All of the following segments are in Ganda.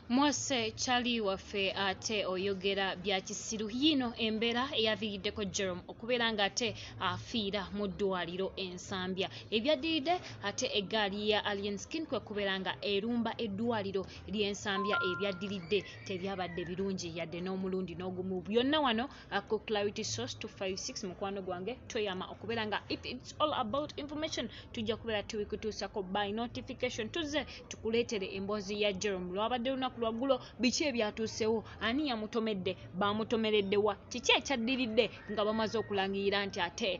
mwose kyali waffe ate oyogera bya kisiru yiino embeera eyaviiriddeko jerome okubeera nga ate afiira mu ddwaliro ensambya ebyaddiridde ate eggaali ya alien skin kwe kubeera nga erumba eddwaliro ly'ensambya ebyaddiridde tebyabadde birungi yadde n'omulundi n'ogumu byonna wano ako clarity source 256 mukwano gwange toyama okubeera nga if its all about information tujja kubeera tubikutuusako by notification tuzze tukuleetere emboozi ya jerome lwabadde lunaku lwaggulo biki ebyatuusewo ani yamutomedde bamutomereddewa kiki ekyaddiridde nga bamaze okulangirira nti ate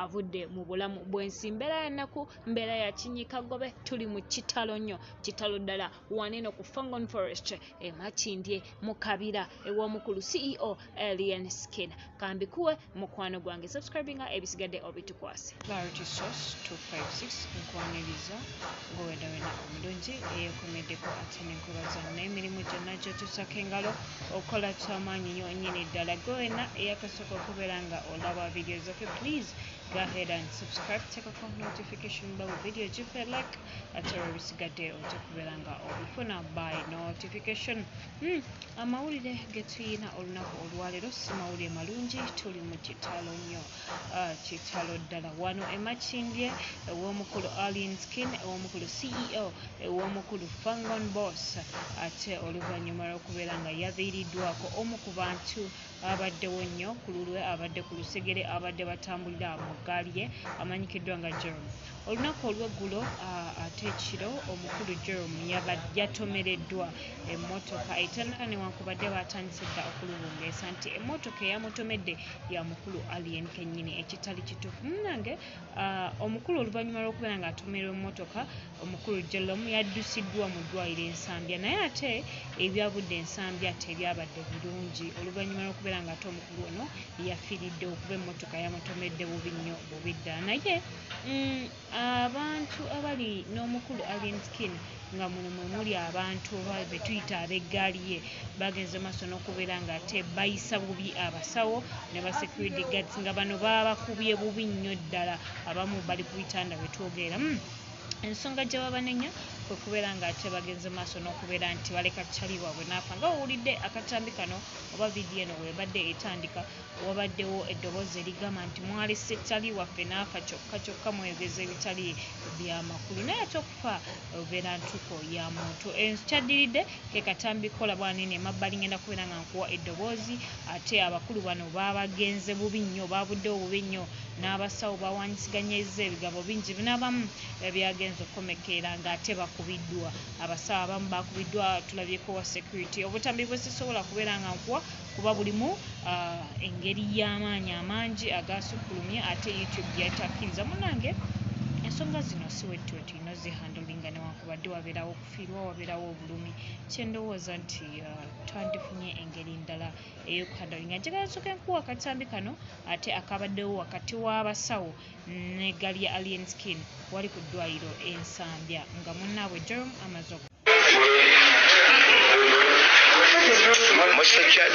avudde mu bulamu bwensi mbeera yanaku mbeera yakinyikagobe tuli mu kitalo nnyo kitalo ddala waneno ku Fangon Forest e Makindye mu Kabira ew'omukulu CEO Alien Skin kambikuwe mukwano gwange subscribinga ebisigadde obitukwase Clarity Source 256 nkwaniriza ng'owedawena omulungi eyekomeddeko ate n'enkola zonna emirimu gyonna gyotusako engalo okola kyamaanyi yo nyini ddala gwe wena eyakasooka okubeera nga olaba vidiyo zaffe please go ahead and subscribe tekako notification bell video give a like ate olubisigadde ojja kubeera nga obifuna by notification hmm, amawulire getuyina olunaku olwaleero si mawulire malungi tuli mu kitalo nnyo ah, kitalo ddala wano emakindye ew'omukulu alien skin ew'omukulu ceo ew'omukulu fangon boss ate oluvannyuma lw'okubeera nga yaviiriddwako omu ku bantu abaddewo nnyo ku lulwe abadde ku lusegere abadde batambulira mu ggaali ye amanyikiddwa nga Jerome. Olunaku olw'eggulo ate ekiro omukulu Jerome yatomereddwa emmotoka etandika newankubadde baatandise dda okulubungeesa nti emmotoka eyamutomedde ya mukulu Alien kennyini ekitali kituufu. Munnange omukulu oluvannyuma lw'okubeera ng'atomerwa emmotoka Omukulu Jellom yaddusiddwa mu ddwaliro e Nsambya naye ate ebyabudde e Nsambya tebyabadde birungi oluvannyuma lw'okubeera ng'ate omukulu ono yafiiriddewo kuba emmotoka yamutomedde bubi nnyo bubi ddala naye abantu abali n'omukulu Alien Skin nga muno mwe muli abantu oba be tuyita ab'eggaali ye baagenze mu maaso n'okubeera ng'ate bayisa bubi abasawo ne ba security guards nga bano baabakubye bubi nnyo ddala abamu bali ku bitanda we twogerera. Ensonga gye babanenya kwe kubeera ng'ate bagenze maaso n'okubeera nti baleka chali waabwe n'afa. Nga wowulidde akatambi kano oba vidiyo eno bw'ebadde etandika, wabaddewo eddoboozi erigamba nti mwalese chali waffe n'afa kyokka kyokka mweyogeza ebitali bya makulu naye ate okufa ebeera ntuko ya muntu. Ekyaddiridde. Ke katambi kola bwani eno emabbali ngenda kubeera nga nkuwa eddoboozi ate abakulu bano bagenze bubi nnyo baabuddewo bubi nnyo n'abasawo bawaanyisiganyizza ebigabo bingi bino abamu byagenze okukomekkeera ng'ate bakubiddwa abasawo abamu baakubiddwa tulabyeko owa security obutambi bwe sisobola kubeera nga nkuwa kuba bulimu engeri y'amaanyi amangi agaasukkulumye ate youtube gyetakkiriza munange ensonga zino siwettuwettu ino zihandolinga newankubadde wabeerawo ofiirwa wabeerawo obulumi kyendowooza nti uh, twandifunye engeri ndala eyokuhandali nga njagala soka enkuwa akatambi kano ate akabaddewo wakati w'abasawo ne gali ya alien skin wali ku ddwaliro ensambya nga munnaabwe jorom amazok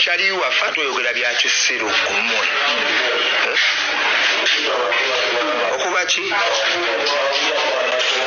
kyaliwa fa toyogera byakisiru kumwe eh? okuba ki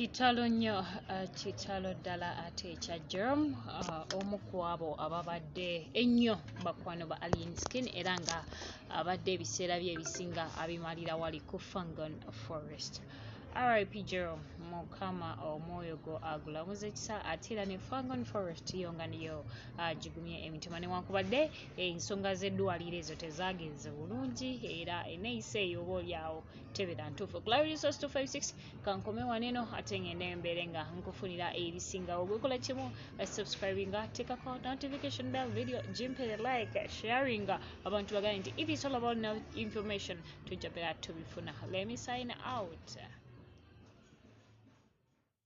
kitalo nnyo uh, kitalo ddala ate ekya germ uh, omu ku abo ababadde ennyo bakwano ba alien skin era nga abadde ebiseera bye ebisinga abimalira wali ku fangon forest rip germ mukama omwoyo gwo agulamuza ekisa ate era ne fangon forest yo nga niyo agigumye uh, emitima newankubadde ensonga z'eddwaliro ezo tezagenze bulungi era eneyisa eyo oba olyawo tebera ntuufu clarisos 256 kankome wano eno ate ngende mbeere nga nkufunira ebisingawo gwekola kimu eh, subscribinga tekako notification bell video gimpere like sharinga abantu bagane nti if it's all about no information tujja bera tubifuna let me sign out